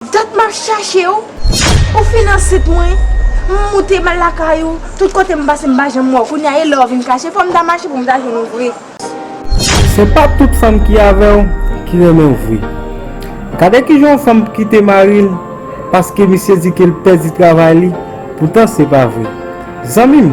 Dat map chachew, ou fin ansent mwen, m moute m al lakay ou, tout kote m pase m pa janm wèw, kounye a e lè ou vin kache, fòm ta mache pou m ta jwenn ou vre. Se pa tout fanm ki avèw ki renmenw vre. Gade kijan yon fanm p kite maril paske misye di kel pèdi travay li poutan se pa vre. Zanmim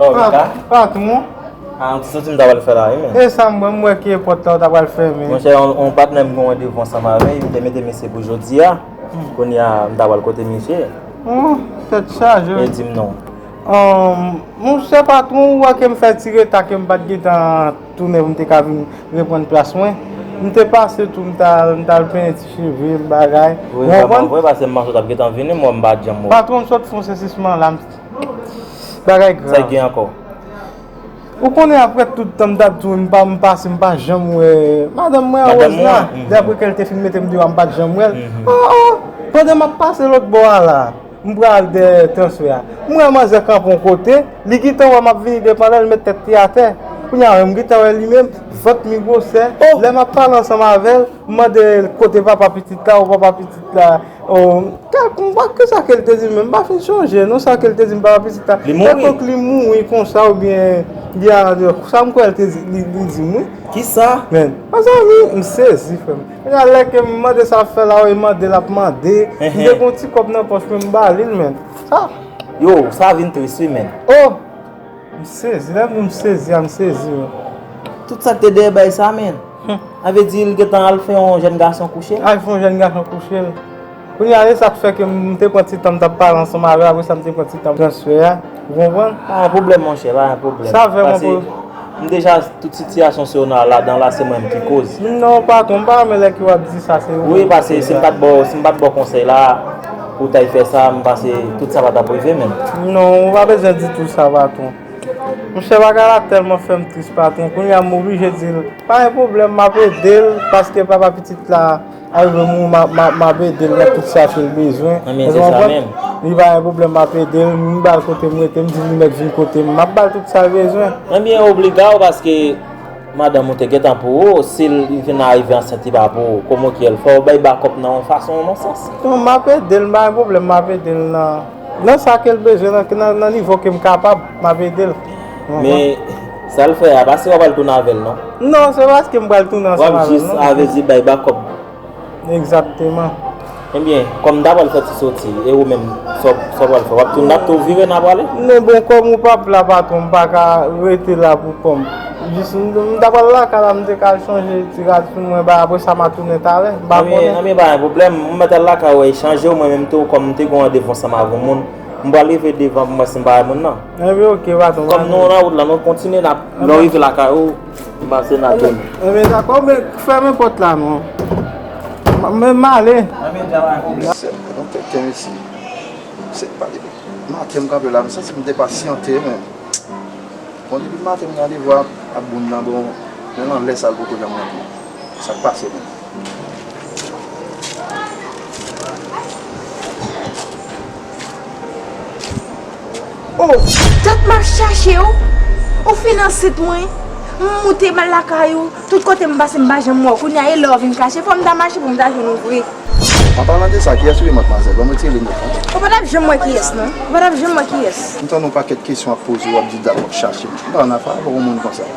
Oh, Rika? Patron? Ah, an ti soti m ta pral fè la wi men. E sa m wè, m wè ke pòt la ou ta pral fèmen. Monchè, yon patnè m gen randevu ansanm avè l, m te mete misye pou jodi a. Kounye a, m ta pral kote misye. Oh, tèt chaje wi. E di m non. Oh, monchè patron, ou wè ke m fè ti reta ke m pa t gen tan tounen pou m te ka vin reprann plas mwen. M te pase tou, m t al, m t al penyen ti cheve m, bagay. Ou konprann? Ou konprann? Vre, paske m panse ou t ap gen tan vini, m wè m pa janm wè w. Patron, m sot fon sesisman la, m. Bagay grav. Sa gen anko. Ou konnen apre tout tan m tap di w m pa m pase m pa janm wè madanm mwen a Rose la de apre ke l te fin mete m deyò a m pat janm wè l oh oh pandan m ap pase lòt bò a la m pral dèyè transfè a m wè manzè kanpe yon kote li gentan wè m ap vini devan l li met tèt li atè kounye a m gentan wè li menm vant li gwosè lè m ap pale ansanm avè l m mande l kote papa pitit la ou papa pitit la. Tel konpa kisa kel te di menm m pa fin sonje non sa kel te di m papa pitit la Li mouri? Telkonk li mouri konsa oubyen li al andeyo sa m kwè l te di li di m wi. Kisa? Men Mezanmi m sezi frèm Gade lè ke m mande sa fè la e mande l ap mande M te gen yon ti kòb nan pòch mwen m ba li l men sa Yow sa vin tris wi menn. Oh! M sezi lè m di m sezi a m sezi wi. Tout sa ki te dèyè baay sa men. A vle di li gentan al fè yon jèn gason kouche l? Al fè yon jèn gason kouche l. Kounye a se sa k fè ke m te pran ti tan m t ap pale ansanm avè l apre sa m te pran ti tan transfè a. Ou konprann? Pa gen pwoblèm monchè, pa gen pwoblèm. Sa vè m anpil. Pase m deja tout sitiyasyon Sona ladan la se mwen m ki koz. Non patwon m pa renmen lè ke w ap di sa se ou menm ki koz la. Wi pase si m pa t ba w konsèy la. Ou tay fè sa, m panse tout sa pa tap rive menm. Non, ou pa bezwen di tout sa patron. Monchè bagay la tèlman fèm tris patron, kounya m oblije di l, pa gen pwoblèm m ap ede l paske papa pitit la a rive mouri m ap ede l nan tout sa ke l bezwen. Ebyen se sa menm. Li pa gen pwoblèm m ap ede l, m ba l kote m rete, m di li mèt vin kote m, m ap ba l tout sa l bezwen. Ebyen obliga w paske. Madanm ou te gentan pou ou, si l vin arive ansent li pa pou ou. Koman ou ki el? Fò ou bay bakòp nan yon fason ou nan sans. Non m ap ede l, m pa gen pwoblèm m ap ede l nan nan sa ke l bezwen nan nan nivo ke m kapab m ap ede l. Men sa l fè a pa se w ap al tounen avè l non. Non se paske m pral tounen ansanm avè l non. Wap jis avè l di bay bakòp. Egzakteman. Ebyen, kòm ta pral fè ti soti, e ou menm, sa w pral fè? W ap tounen ap tou vire nan prale? Non bon, kòm ou pap la patwon, m pa ka rete la pou kò m. Jis m ta pral lakay la, m te ka al chanje ti rad sou mwen bay, apre sa m a tounen talè. M pa konnen. Anben, pa gen pwoblèm. M mèt al lakay ou e chanje ou mwen menm tou, kòm m te gen yon randevou ansanm avèk yon moun. M pral rive devan pou m wè si m pa wè moun nan. Anben ok patwon. Kòm nou nan wout la, nou kontinye n ap. Lè w rive lakay ou. M pase nan tonn. Anbyen dakò men fèmen pòt la non. Men m ale. Anbyen dja mwen ale. Mwen sèm pran tèt kèm isi. M sèm pa depi maten m kanpe la m santi m depasyante men. Bon depi maten m gen randevou a moun nan bon menm anlè sa l poko janm rantre. Sa k pase menm. Oh dat map chache w Ou fin ansent mwen M moute m al lakay ou Tout kote m pase m pa janm wè w Kounye a e lè w vin kache Fò m ta mache pou m ta jwenn ou vre. An palan de sa, kiyès ou ye matmwazèl? Banm retire linèt lan. Ou pa tap janm wè kiyès non. Ou pa tap janm wè kiyès. M tande yon pakèt kesyon wap poze wap di dat wap chache m. M pa konn afè avèw yon moun konsa.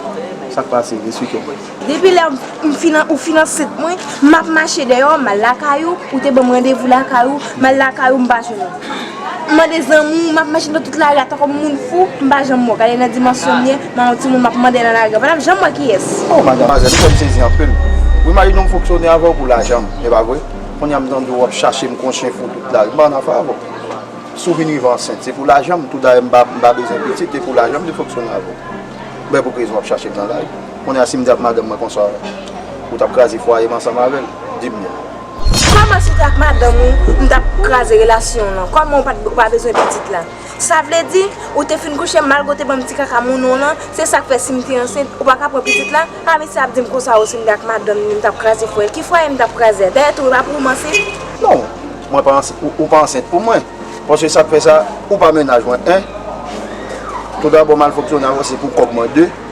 Sak pase? Esplike m. Depi lè ou fin ansent mwen, m ap mache deyò, m al lakay ou, ou te ban m randevou lakay ou, m al lakay ou m pa jwenn ou. M mande zanmi w, m ap mache nan tout lari a tankou yon moun fou, m pa janm wè w. Gade nan dimansyon m ye, m an yon timoun m ap mande nan lari a, m pa t ap janm wè kiyès. O madamwazèl, ou fè m sezi anpil. Wi Marie non m fonksyone avè w pou lajan m, e pa vre? Kounye a m tande w ap chache m kon chen fou tout lari, m pa an afè avè w. Si w vin rive ansent, se pou lajan m, toudayè m pa bezwen pitit, e pou lajan m te fonksyone avè w. Bè pou ki rezon w ap chache m nan lari? Kounye a si m di ak madanm mwen konsa ou t ap kraze fwaye m ansanm avè l? Di m non. Kòman si w te ak madanm ou m t ap kraze relasyon w lan? Kòman ou pa bezwen pitit la? Sa vle di ou te fin kouche malgre ou te ban m ti kaka moun ou lan se sa k fè si m te ansent ou pa ka pran pitit la? Pa mesye ap di m konsa o si m te ak madanm ni m t ap kraze fwaye l. Ki fwaye m t ap kraze a? Dayè tou e pa pou ou m ansent? Non, mwen pa ansent ou pa ansent pou mwen paske sa k fè sa ou pa mennaj mwen 1 Tou dabò malfonksyonay ou se pou kòb mwen 2.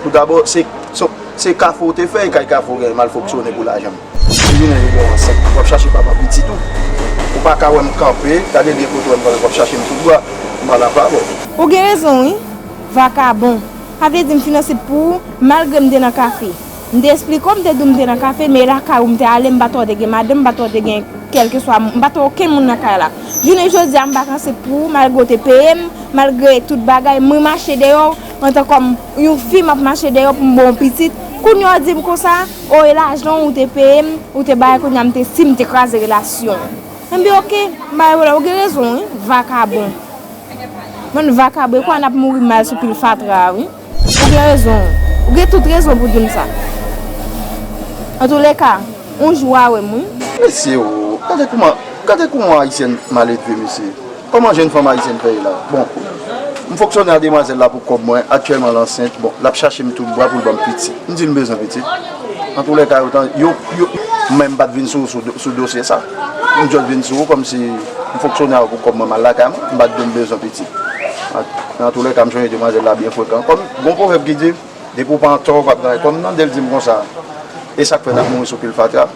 Tou dabò, se kafou ou te fè e kay kafou ou gen malfonksyone pou lajan. Depi jounen yo wè ansent, wap chache papa pitit ou. Ou pa ka wèm kanpe, gade byen kote wèm kanpe, wap chachem tout bwa, m'en avawon. Ou gen rezon wi, vakabon. Sa vle di m finanse t pou ou, malgre m te nan kafe. M te esplike w, m te di w m te nan kafe, men lakay ou m te ale, m pa tande gen madanm, m pa tande gen kèlkeswa, m pa tande okenn moun nan kay la. Jounen jodi a m pa kanse t pou ou, malgre w te peye m, malgre tout bagay, m remache deyò w, Antan kòm Yon fi map mache dèyèw poum baw pitit kounya w dim konsa oh e lajan ou te peyem ou te bay kounya m te sim te kraze relasyon an bi ok m bay volè ou gen rezon wi vakabon bann vakabon e kounya nap mouri mal sou pil fatra a wi ou gen rezon ou gen tout rezon pou dim sa antoulèka yon jou wa wèm wi. Mesye oo gade kouman gade kouman ayisyèn maledve mesye. Koman jenn fanm ayisyèn fè ye la? Bon, m fonksyone a demwazèl la pou kòb mwen, aktyèlman l ansent, bon, l ap chache m tout bwa pou l ban m pitit. M di l m bezwen pitit. Antoulèka yo ta, yo, yo. M menm m pa t vin sou ou sou dosye sa. M just vin sou ou kòmsi m fonksyone avè w pou kòb mwen, m al lakay mwen, m pa t di w m bezwen pitit. Men antoulèka m sonje demwazèl la byen frekan. Kòm, gon pwovèb ki di, depi w pa antò ou pa p nan. Kòm m tande l di m konsa, e sa k fè n ap mouri sou pil fatra?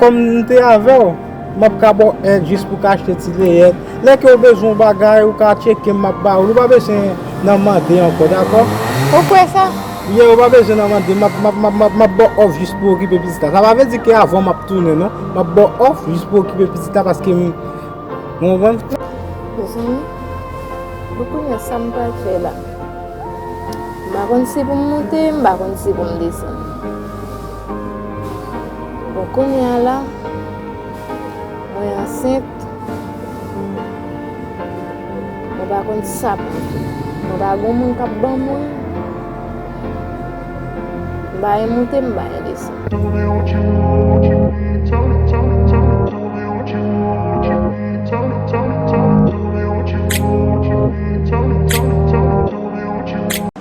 Kòm m te avè w, m ap ka ba w èd jis pou w ka achte ti leyèt. Lè ke w bezwen yon bagay, ou ka tcheke m, m ap ba w li. Ou pa bezwen nan mande ankò, dakò? Ou kwè sa? Yeah, ou pa bezwen nan mande. M ap, m ap, m ap, m ap ba w òf jis pou w okipe pitit la. Sa pa vle di ke avan m ap tounen, non. M ap ba w òf jis pou w okipe pitit la paske m. Ou konprann? Mezanmi, bon kounye a sa m pral fè la? M pa konn si pou m monte, m pa konn si pou m desann. Bon kounya la mwen ansent mwen pa konn sa pou mwen pa gon moun kap ban mwen mba e moute mba e desann.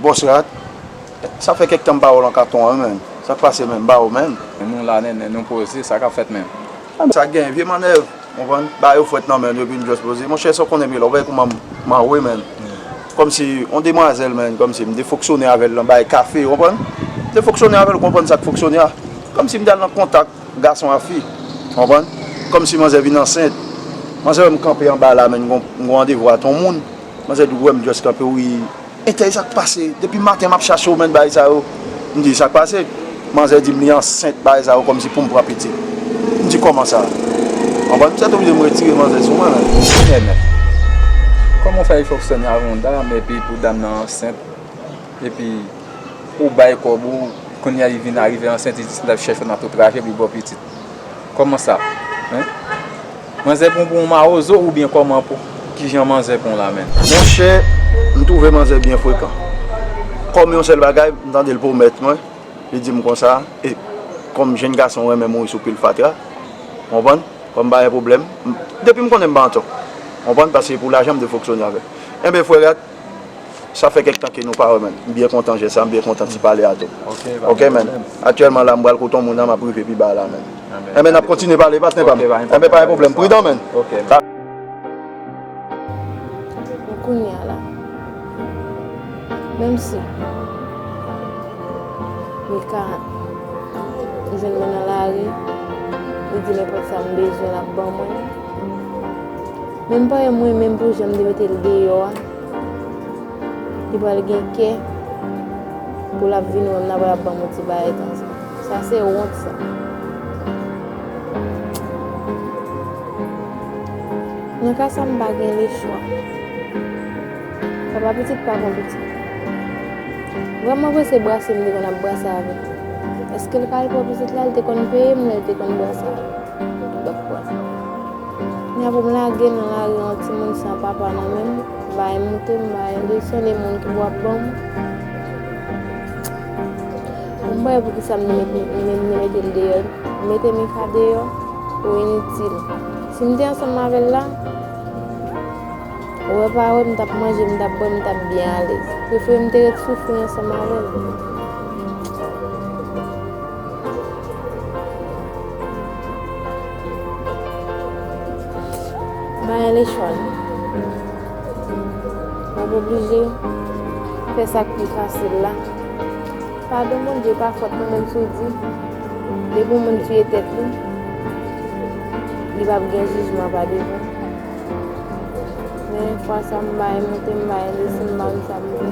Bòs rat, Sa fè kèk tan m pa wè w lan katon an menm. Sa k pase menm? M pa wè w menm. Nou la nènè, nou poze. Sa k ap fèt menm? Sa k genyen? Vye mannèv, ou konprann. Ba yo fwèt nan men nou epi nou just poze. Monchè, sa w konnen byen la. W gade kouman m anwe menm. Kòmsi yon demwazèl menm. Kòmsi m te fonksyone avè l lan bay kafe, ou konprann. M te fonksyone avè l, ou konprann sa k fonksyone a. Kòmsi m te al lan kontak gason a fi, ou konprann. Kòmsi manzè vin ansent. Manzè wè m kanpe anba la menn, m gen yon randevou a ton moun. Manzè di w wè m just kanpe wi. Intèy sak pase depi maten map chachew menn bagay sa yo m di sak pase manzè dim li ansent bagay sa yo kòmsi poum pran pitit m di kòman sa anvan m sètoblije m retire manzè sou mwen menn. Enènè. Kòman w fè li foksyone avèk yon dam epi pou dam nan ansent epi ou bay kòb ou kounya li vin arive ansent li di se lap chèchew nan tout traje pou li baw pitit. Koman sa hein manzè pon pou yon mawozo ou byen koman pou kijan manzè pon la menm. Monchè m twouve manzè byen frekan kòm yon sèl bagay m tande l pwomèt mwen li di m konsa e kòm jenn gason m renmen mouri sou pil fatra ou konprann fò m pa gen pwoblèm depi m konnen m pa antò ou konprann paske pou lajan m dwe foksyone avè l enben frè Rat. Sa fè kèk tan ke nou pa wè man. M byen kontan jès sa, m byen kontan ti pale a tou. Ok man. Aktyèlman la m pral kote yon moun la, m ap rive pi ba la man. Enben n ap kontinye pale patnè pa m. Enben pa gen pwoblèm. Pridan man. Bon kounye a la, menm si Mika li jwenn mwen nan lari, li di nenpòt sa m bezwen l ap ban mwen. Menm parenn mwen menm pou janm te metel deyò a li pral gen kè pou lap vin wèm nan pral ap banm yon ti bagay konsa sa se wont sa nan ka sa mpa gen le chwa papa pitit pa bon pitit vrèman vre se brase mte konn ap brase avèl eskel pa al pou pitit la li te konn peyem lèl te konn brase. N ap lage nan lari yon timoun san papa nan men l, bay moute, bay leson de moun ki wap ban m. M pa wè pou ki sa m te mete l deyò. Mete Mika deyò pou initil. Si m te ansanm avè l la, wè pa wè m t ap manje, m t ap bwè, m t ap byen alèz. Prefere m te ret soufri ansanm avè l. Maya lechon. Mwen oblije fè sa ki fasil la. Padon mon Dieu pa fòt mwen menm sou di. Depi yon moun tuye tèt li, li pa gen jijman pa devan. Men fwa sa m bay monte m bay desi m bay sa m vle.